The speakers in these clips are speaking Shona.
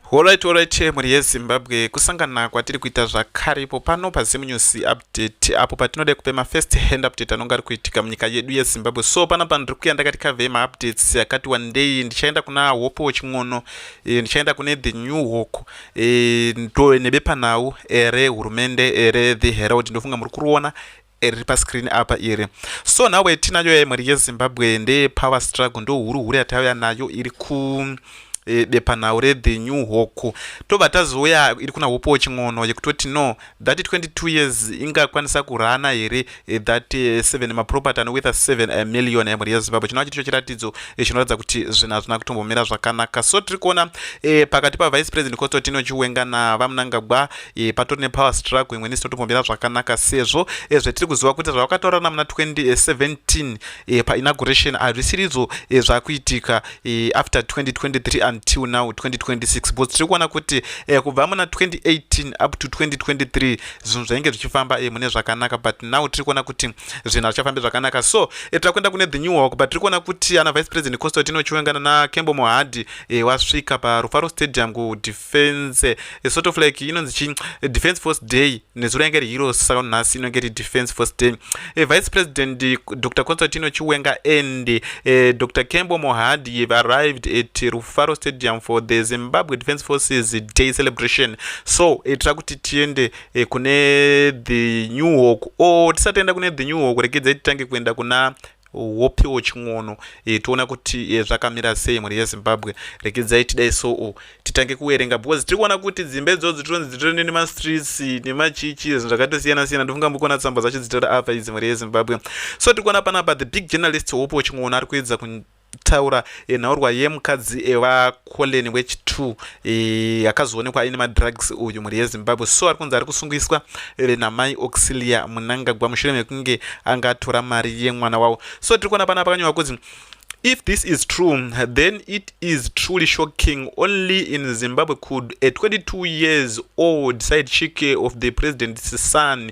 Horaiti horaiti mhuri yeZimbabwe kusangana kwatiri kuita zvakare ipo pano paZim News Update apo patinoda kupe mafirst hand update anonge ari kuitika munyika yedu yeZimbabwe so pana pano ndiri kuya ndakati kavei maupdates akati wandei ndichaenda kuna Hope Weching'ono e, ndichaenda kune The New Hawk e, to nebepanhau ere hurumende ere The Herald ndofunga muri kuruona riri pascreen apa iri so nhau yatinayo yemhuri yezimbabwe ndeye power struggle ndo huru huru yatauya nayo iri ku e, bepanhau rethe new hoku tobva tazouya iri kuna hopo weching'ono yekutoti no that 22 years ingakwanisa kurana here e, that 7 e, maproperty anowetha 7 million emhuri yezimbabwe chinova chiticho chiratidzo chinoratidza kuti zvinhu hazvina kutombomira zvakanaka so tiri kuona pakati pavice president kototino chiwenga navamunangagwa e, patori nepower struggle imwe nisi totombomira zvakanaka sezvo e, zvetiri kuziva kuti zvavakataura namuna 2017 e, painauguration hazvisiridzo e, zvakuitika e, after 2023 until now 2026 because tiri kuona kuti e, kubva muna 2018 up to 2023 zvinhu zvainge zvichifamba e, mune zvakanaka but now tiri kuona kuti zvinhu hazvichafambi zvakanaka so e, tiri kuenda kune the new walk but tiri kuona kuti ana vice president constantino chiwenga nana kembo mohadi e, wasvika parufaro stadium kudif defense a sort of like inonzi chi defense force day nezuro yange iri hero saka nhasi inonge iri defense force day e, vice president dr constantino chiwenga and e, eh, dr kembo mohadi have arrived at rufaro stadium for the zimbabwe defense forces day celebration so itira eh, kuti tiende e, kune the new hawk o oh, tisatoenda kune the new hawk rekedza titange kuenda kuna wopiwo chin'ono e, toona kuti e, zvakamira sei mhuri yezimbabwe regedzai tidai soo titange kuverenga because tiri kuona kuti dzimba idzodzo tironzi dzitori nemastreets nemachichi zvinhu zvakatosiyana siyana ndofunga mbikuona tsamba dzacho dzitori apa idzi mhuri yezimbabwe so tiri kuona panapa the big journalist wopiwo chin'ono ari kuedza taura e, nhaurwa yemukadzi e, vacollen wechitu e, akazoonekwa aine madrugs uyu mhuri yezimbabwe so ari kunzi ari kusungiswa e, namai auxilia munangagwa mushure mekunge anga atora mari yemwana wavo so tiri kuona pana pakanyorwa kunzi if this is true then it is truly shocking only in zimbabwe could a 22 years old side chike of the president's son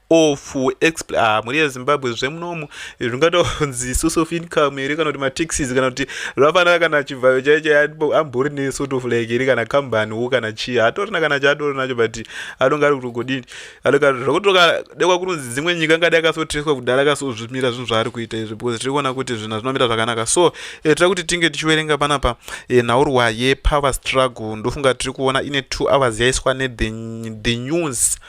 of expl ah, mhuri yezimbabwe zvemunomu zvingatonzi source of income here kana kuti mataxis kana kuti rafana kana chivhayo chaicho ambori nesort of like here kana company wo kana chii hatorina kana chaatori nacho but anonge ari kutogodini anonge zvokutoka dekwa kunonzi dzimwe nyika ngadi akasotreswa kudala akasozvimira zvinhu zvaari kuita izvi because tiri kuona kuti zvinhu zvinomira zvakanaka so eh, tira kuti tinge tichiverenga panapa eh, nhaurwa yepower struggle ndofunga tiri kuona ine two hours yaiswa nethe news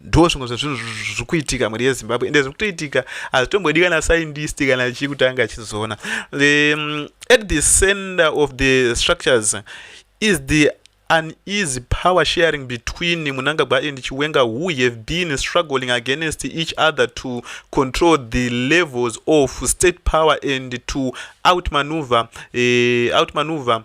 ndo zvimwe zvezvinhu zviri kuitika mhuri yezimbabwe ende zviri kutoitika hazvitombodi kana scientist kana chii kuti ange achizoona um, at the center of the structures is the uneasy power sharing between munangagwa and chiwenga who have been struggling against each other to control the levels of state power and to outmaneuver uh, outmaneuver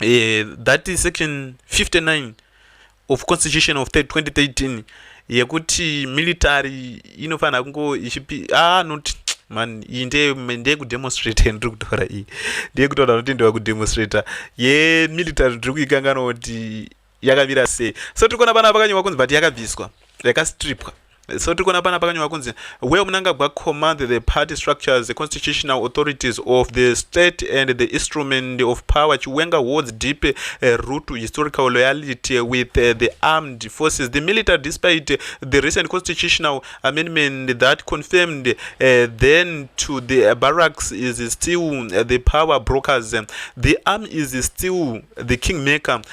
eh, that is section 59 of constitution of 2013 yekuti military inofanira kungo ichipi ah not man iyi ndeyekudemonstrate ndiri kutaura iyi ndeyekutaura kuti ndewa kudemonstrate yemilitary ndiri kuikangana kuti yakamira sei so tiri kuona pana pakanyorwa kunzi but yakabviswa yakastripwa so tiri kuona pana pakanyorwa kunzi where munangagwa command the party structures the constitutional authorities of the state and the instrument of power chiwenga holds deep uh, root historical loyalty with uh, the armed forces the military despite uh, the recent constitutional amendment that confirmed uh, then to the uh, barracks is still uh, the power brokers the arm is still the kingmaker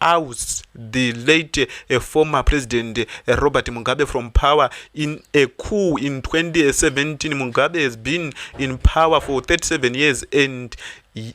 oust the late eh, former president eh, robert mugabe from power in a coup in 2017 mugabe has been in power for 37 years and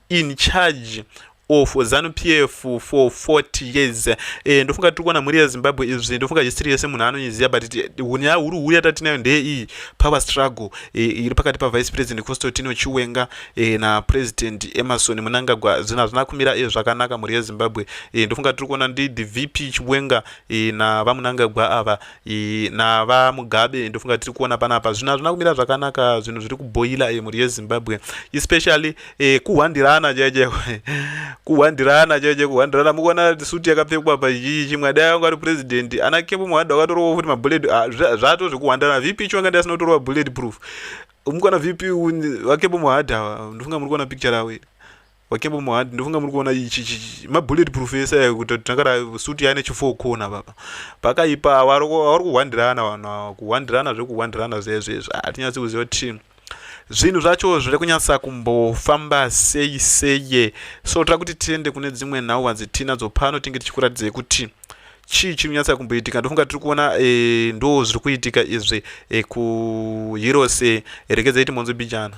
in charge of zanu p f for 40 years eh, ndofunga tiri kuona mhuri yezimbabwe izvi ndofunga history yese munhu anoiziva but hunya huru huru yatatinayo ndeye iyi power struggle eh, iri pakati pavice president constantino chiwenga e, na president emerson munangagwa zvinhu hazvina kumira e, zvakanaka mhuri yezimbabwe e, ndofunga tiri kuona ndi the vp chibwenga e, na vamunangagwa ava e, na vamugabe ndofunga tiri kuona panapa zvinhu hazvina kumira zvakanaka zvinhu zviri kubhoila e, mhuri yezimbabwe especially e, kuhwandirana chaiko kuhwandirana chaiko kuhwandirana mukuona suti yakapfekwa pachii chimwe adai anga ari president ana kepo mwadha wakatorowa futi mabullet ah, zvato zvekuhwandirana vp chibwenga ndiyasinotorwa bullet proof Umukwana VP vakebo muhard awa ndofunga muri kuona picture rawo iri. Wakebo muhard ndofunga muri kuona ichi ichi ma bullet proof ese ayo kuti tangara suit yaine chifo kona baba. Pakaipa awari awari kuhwandirana vanhu awa kuhwandirana zvekuhwandirana zvezvo izvo. Atinyatsi ah, kuziva kuti zvinhu zvacho zviri kunyatsa kumbofamba sei sei. So tira kuti tiende kune dzimwe nhau hadzitinadzo pano tinge tichikuratidzei kuti chii chiri kunyatsa kumboitika ndofunga tiri kuona e, ndo zviri kuitika izvi e, kuheroes e, rekedzai timonzwe bijana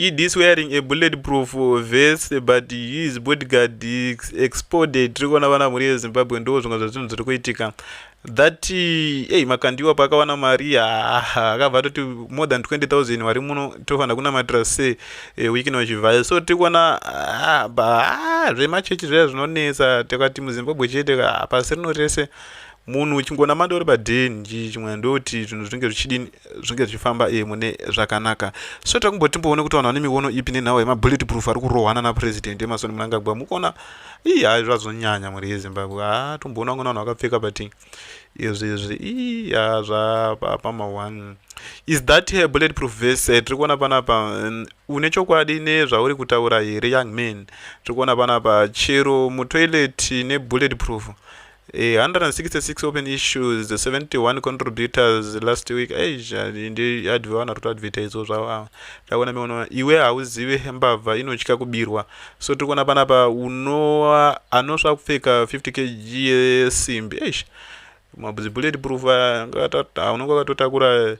ED is wearing a bulletproof vest but his bodyguard is exploded tiri kuona vana mhuri yezimbabwe ndo zvimwe zvezvinhu zviri kuitika that ei makandiwa paakawana mari akabva atoti more than 20000 vari muno tofanira kunamatira se eh, weekend wachivhaya so tiri kuona zvemachechi zviya zvinonetsa tikati muzimbabwe chete pasi rino rese munhu uchingonamata uri padhen chimwe ndokuti zvinhu zvinenge zvichidini zvinge zvichifamba e mune zvakanaka so takumbotimboone kuti vanhu vane miono ipi nenhau yemabullet proof ari kurohwana napurezidendi emasoni munangagwa mukuona ii hai zvazonyanya mhuri yezimbabwe ha tomboona vamwe vanhu vakapfeka but izvi izvi ii ha zvapama one is that a bullet proof vese eh, tiri kuona panapa mm, une chokwadi nezvauri kutaura here young man tiri kuona panapa chero mutoilet nebullet proof 166 open issues 71 contributors last week eiadvana kuti advertise zvavo takuona miona iwe hauzive mbavha inotya kubirwa so tiri kuona panapa unoa anosva kupfeka 50 kg yesimbi eish mabuzibullet proof unonge wakatotakura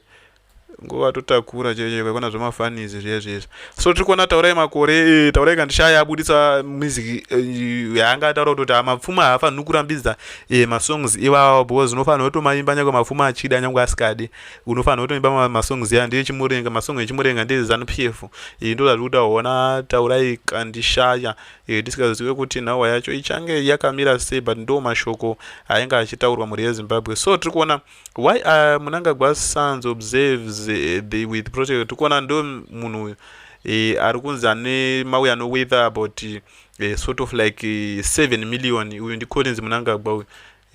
nguva totakura chaiyo chaiyo kwaikona zvemafanisi zviya zviya izvi so tiri kuona taurai makore eh, taurai kandishaya abudisa music eh, yaanga ataura kutoti ah, mapfuma haafaniri kurambidza eh, masongs iwawo because unofanira kutomaimba nyangwe mapfuma achida nyangwe asikadi unofanira kutoimba masongs ya ndiye chimurenga masong echimurenga ndiye zanu p f ndo zvatiri kuti aona taurai kandishaya tisikazive kuti nhawa yacho ichange yakamira sei but ndo mashoko ainge achitaurwa mhuri yezimbabwe so tiri kuona why uh, munangagwa sons observes uh, the with protect tikuona ndo munhu uyu uh, ari kunzi ane mauya no weather about uh, sort of like uh, seven million uyu ndi collins munangagwa uyu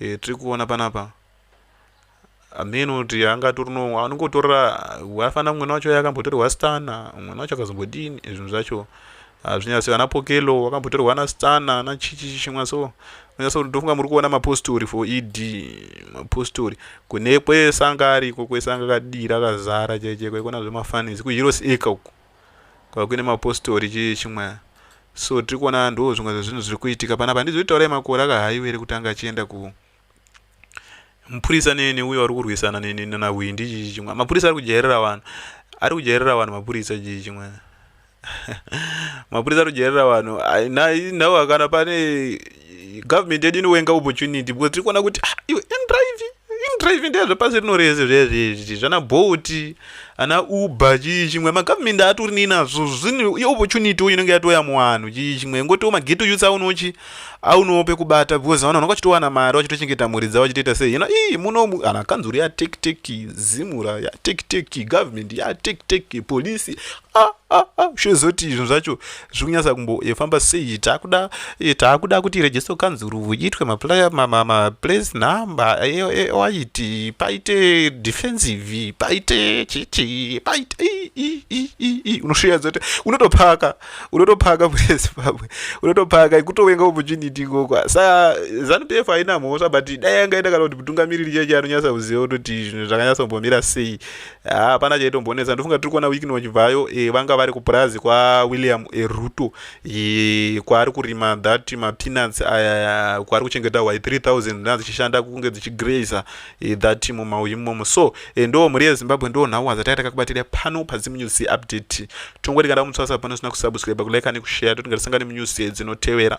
uh, tiri kuona panapa ameno kuti anga torino anongotora wafanira mwana wacho yakambotorwa stana mwana wacho akazombodini zvinhu zvacho hazvinyasi vana pokelo wakambotorwa ana stana ana chichi chimwa so unyasa kuti ndofunga muri kuona mapostori for ed mapostori kune kwesanga ariko kwesanga kadira kazara chaiche kwaikona zvemafanisi kuheros eka uku kwakuine mapostori chii chimwa so tiri kuona ndo zvimwe zvezvinhu zviri kuitika panapa handizoitaurai makore akahaiwere kutanga achienda ku mupurisa neni uyo ari kurwisana neni nanahwindi chichi chimwe mapurisa ari kujairira vanhu ari kujairira vanhu mapurisa chichi chimwe mapurisa ari kujairira vanhu nhau hakana pane government yedu inowenga opportunity because tiri kuona kuti ah, iwe indrive indrive ndezvepasi rino rese zvezvezvi zvana boti ana uber chii chimwe magovernment atori nei nazvo zvine iopportunity uyo inenge yatoya muwanhu chii chimwe ngotiwo mageto youth aunochi aunowo pekubata because vanhu vanenge vachitowana mari vachitochengeta mhuri dzavo vachitoita sei hino ii munomu kana kanzuru yatekteki zimura yatekteki government yatekteki polisi ah, ah, ah, zvozoti izvo zvacho zviri kunyasa kumbofamba eh, sei takuda eh, takuda kuti register kanzuru iitwe maplace number ewaiti eh, paite defensive paite chichi paite unosvira dzoti unotopaka unotopaka murezi pamwe unotopaka kutovenga opportunity ikoko sa zanu pf haina mhosva but dai yanga ita kana kuti mutungamiriri cheche anonyasa kuziva kutoti zvinhu zvakanyasa kumbomira sei hapana chaitombonetsa ndofunga tiri kuona wikini wachibvayo e, vanga vari kupurazi kwawilliam e, ruto e, kwaari kurima that mapeanuts aya kwaari kuchengeta y 3000 dzinaa dzichishanda kunge dzichigrazer Eh, that mumauyu imomo so eh, ndo mhuri yezimbabwe ndo nhau wazatanga takakubatira pano pazimu news update tongoti kana mutswasa pano sina kusubscribe kulike nekushare toti ngatisangane munews dzinotevera